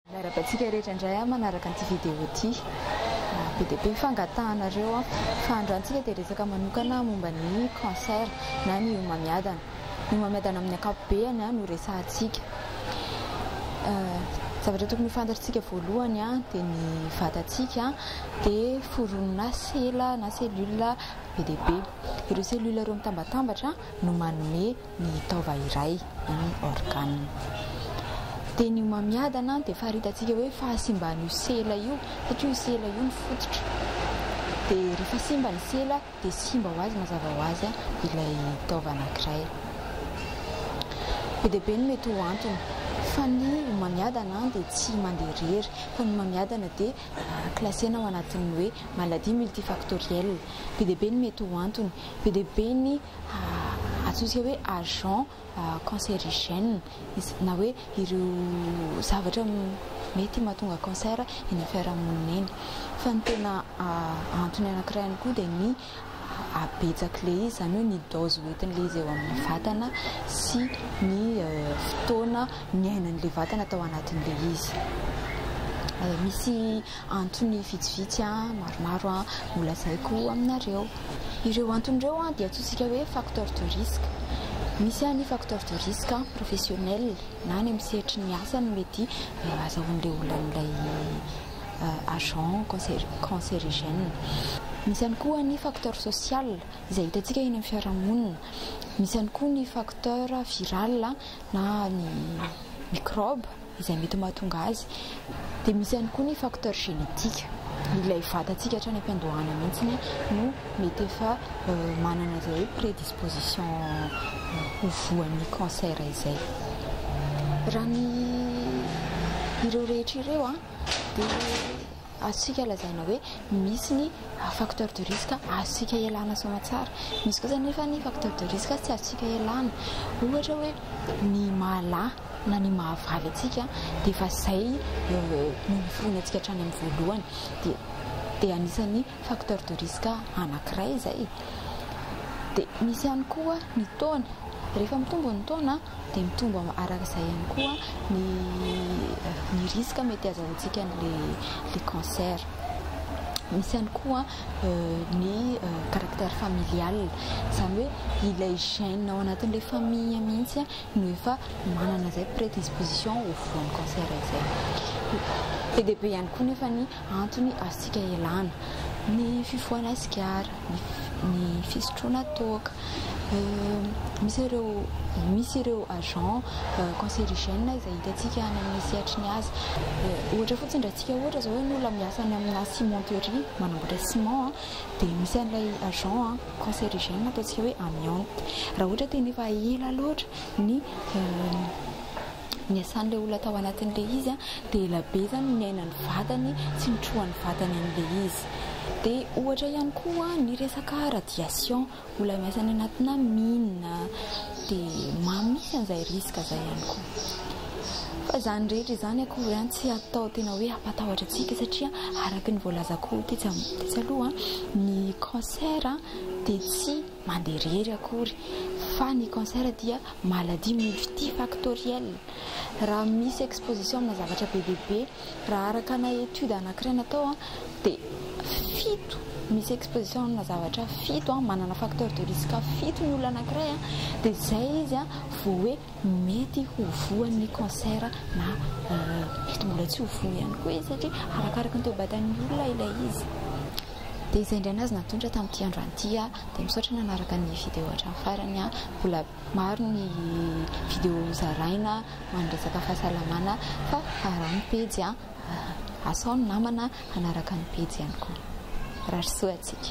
Miarahaba antsika rehetra indray a manaraka an'ity vidéo ity. Be dia be ny fangatahanareo a. Fa androantsika dia resaka manokana momba ny cancer na ny homamiadana. Ny homamiadana amin'ny ankapobeany a no resahantsika. Zavatra tokony ho fantatritsika voalohany a dia ny vatantsika dia foronina sela na cellule be dia be. Ireo cellule ireo mitambatambatra no manome. ny taova iray any Organe. Dia ny homamiadana dia faharitantsika hoe fahasimban'io sela io satria io sela io ny fototra. Dia rehefa simba ny sela dia simba ho azy mazava ho azy ilay taova anankiray. Be dia be ny mety ho antony fa ny homamiadana dia tsy mandeha irery fa ny homamiadana dia klasena ho anatin'ny hoe maladie multifactorielle. Be dia be ny mety ho antony, be dia be ny Atsontsika hoe agent cancérigène izy na hoe ireo zavatra mety mahatonga cancer eny fiarahamonina eny. Fa ny tena antony anankiray ihany koa dia ny habetsak'ilay izy, izany hoe ny dose hoentin'ilay izy eo amin'ny vatana sy ny fotoana niainan'ilay vatana tao anatin'ilay izy. Misy. Antony vitsivitsy maromaro no lazaiko aminareo. Ireo antony ireo dia antsointsika hoe facteurs de risque. Misy ny facteurs de risque professionnels na any amin'ny sehatry ny asa no mety ahazahoan'ilay olona an'ilay agent cancérigène. Misy ihany koa ny facteurs sociales izay hitantsika eny amin'ny fiarahamonina. Misy ihany koa ny facteurs virales na ny microbes. izay mety mahatonga azy. Dia misy ihany koa ny facteur génétique, ilay vatantsika hatrany am-piandohana mihitsy no mety efa manana izay hoe prédisposition ho voan'ny cancer izay. Raha ny ireo rehetra ireo dia Azontsika lazaina hoe misy ny facteur de risque azontsika ialana soa tsara. Misy kosa anefa ny facteur de risque tsy azontsika ialana. Ohatra hoe ny maha-lahy na ny maha-vavy antsika dia efa izay no nifono antsika hatrany amin'ny voalohany. Dia dia anisan'ny facteur de risque anankiray izay. Dia misy ihany koa ny taona. Rehefa mitombo ny taona. dia mitombo araka izay ihany koa ny ny risque mety hazahoantsika an'ilay cancer. Misy ihany koa ny caractère familial, izany hoe ilay gène ao anatin'ilay famille mihitsy no efa manana izay prédisposition ho voan'ny cancer izay. Be dia be ihany koa nefa ny antony azontsika ialana, ny fifohana sigara, ny fisotroana toaka, misy ireo misy ireo agents cancérigènes izay hitantsika any amin'ny sehatry ny asa, ohatra fotsiny raha antsika ohatra izao hoe ny olona miasa any amina cimenterie manamboatra ciment dia misy an'ilay agent cancérigène ataontsika hoe amiante, raha ohatra dia efa ela loatra ny niasan'ilay olona tao anatin'ilay izy dia ela be izany no niainan'ny vatany sy nitrohan'ny vatany an'ilay izy. Dia ohatra ihany koa ny resaka radiation, olona miasa any anatina mine dia mamy mihitsy an'izay risque izay ihany koa. Fa izany rehetra izany akory an, tsy atao tena hoe hampatahotra antsika satria araka ny voalazako tetsy tetsy aloha, ny cancer dia tsy. mandeha irery akory fa ny cancer dia maladie multifactorielle raha misy exposition amina zavatra be dia be raha araka ana étude anakiray natao dia fito misy exposition amina zavatra fito manana facteur de risque fito ny olona anakiray dia zay izy vao hoe mety ho voan'ny cancer na mety mbola tsy ho voa ihany koa izy satria arakaraka ny toe-batan'ny olona ilay izy Dia izay indray nahazo natolotra tamin'ity androany ity aho. Dia misaotra nanaraka ny video hatramin'ny farany an! Mbola maro ny video ho zaraina ho an'ny resaka fahasalamana fa araho ny pejy an! Asao ny namana hanaraka ny pejy ihany koa. Mirary soa antsika.